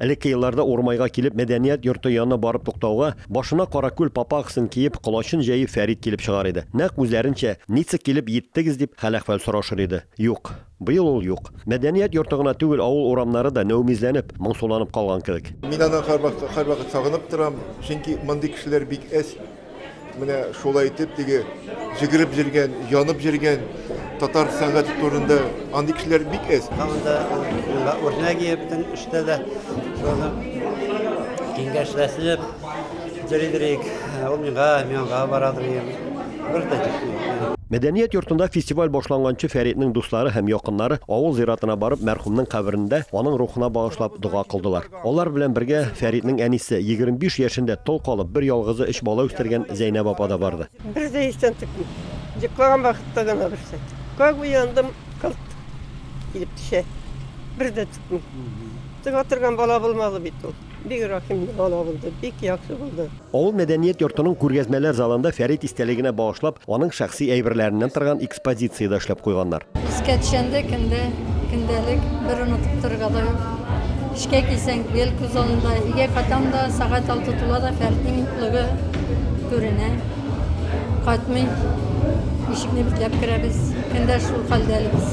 Элекке елларда Урмайга килеп мәдәният йорты янына барып туктауга, башына каракүл папахасын киеп, колачын җәеп Фәрит килеп чыгар иде. Нәкъ үзләренчә, Ница килеп йиттегез, дип хәл-әхвәл сорашыр иде. Юк. Быел ул юк. Мәдәният йорты гына түгел, авыл урамнары да нәүмизләнеп, моңсуланып калган кебек. Мин аны һәрвакыт сагынып торам, чөнки мондый кешеләр бик әз. Менә шулай итеп теге җигереп җиргән, янып җиргән татар сәнгате турында андый кешеләр бик әз. Анда мында Урнәгиевтен эштә дә шуны киңәшләшеп дирек ул миңа миңа бара дигән. Бер дә җитми. Мәдәният йортында фестиваль башланганчы Фәритнең дуслары һәм якыннары авыл зиратына барып мәрхүмнең каберендә аның рухына багышлап дога кылдылар. Алар белән бергә Фәритнең әнисе, 25 яшендә тол калып, бер ялгызы өч бала үстергән Зәйнәб апа да барды. Бер дә истән текми. Йоклаган вакытта гына берсе. Как уяндым, кылт килеп төшә. Бер дә текми. Тыга торган бала булмады бит ул. Бик рәхимле бала булды, бик яхшы булды. Авыл мәдәният йортының күргәзмәләр залында Фәрит истәлегенә багышлап, аның шәхси әйберләреннән торган экспозиция дә эшләп куйганнар. Искә төшәндә кемдә көндәлек, бер онытып торырга да юк. Эшкә килсәң, гел күз алдында, өйгә кайтам да, сәгать алты тула да Фәритнең юклыгы күренә. Кайтмый. Ишекне бикләп керәбез. Көндә шул хәлдә әле без.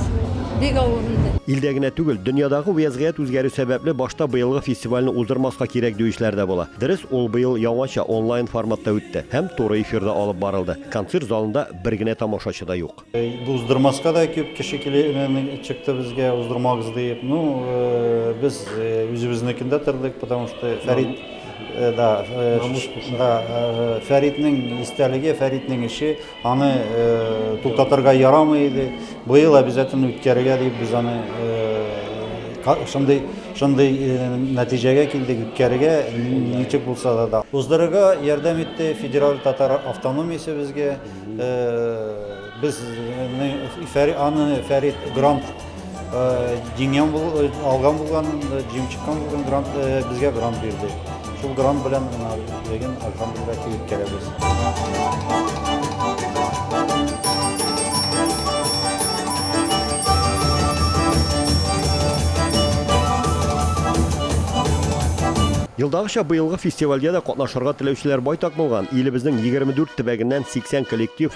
Бик авыр инде. Илдә генә түгел, дөньядагы вәзгыять үзгәрү сәбәпле, башта быелгы фестивальне уздырмаска кирәк диючеләр дә була. Дөрес, ул быел яңача, онлайн форматта үтте һәм туры эфирда алып барылды. Концерт залында бер генә тамашачы да юк. Уздырмаска да күп кеше килеп чыкты безгә, уздырмагыз диеп. Ну, без үзебезнекендә тордык, потому что Фәрит, да, Фәритнең истәлеге, Фәритнең эше. Аны туктатырга ярамый иде. Быел обязательно үткәрергә дип без аны шундый шундый нәтиҗәгә килдек үткәрергә ничек булса да да уздырырга ярдәм итте федераль татар автономиясе безгә без аны фәрит грант Җиңгән бул, алган булган, җиңеп чыккан булган грант безгә грант бирде. Шул грант белән мына бүген Альхамдулилла килеп керәбез. Елдагыча быелгы фестивальгә дә катнашырга теләүчеләр байтак булган. Илебезнең 24 төбәгеннән 80 коллектив,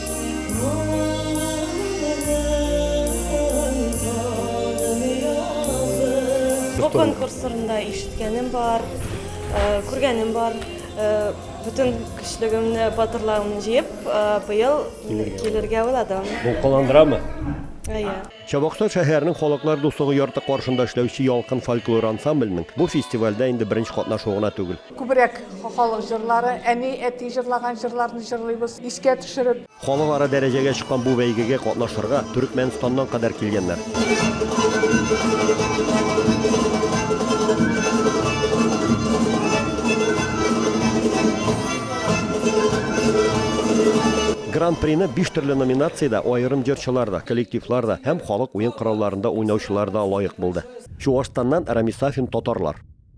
Бу конкурс турында ишеткәнем бар, э, күргәнем бар. Э, Бүтән көчлегемне, батырлыгымны җыеп, э, быел килергә уйладым. Дулкынландырамы? Әйе. Чабакта шәһәрнең Халыклар дуслыгы йорты каршында эшләүче Ялкын фольклор ансамбленең бу фестивальдә инде беренче катнашуы гына түгел. Күбрәк халык җырлары, әни, әти җырлаган җырларны җырлыйбыз, искә төшереп. Халыкара дәрәҗәгә чыккан бу бәйгегә катнашырга Төрекмәнстаннан кадәр килгәннәр. Гран-прины биш төрле номинациядә аерым җырчылар да, коллективлар да һәм халык уен коралларында уйнаучылар да лаек булды. Чуашстаннан Рамис Сафин татарлар.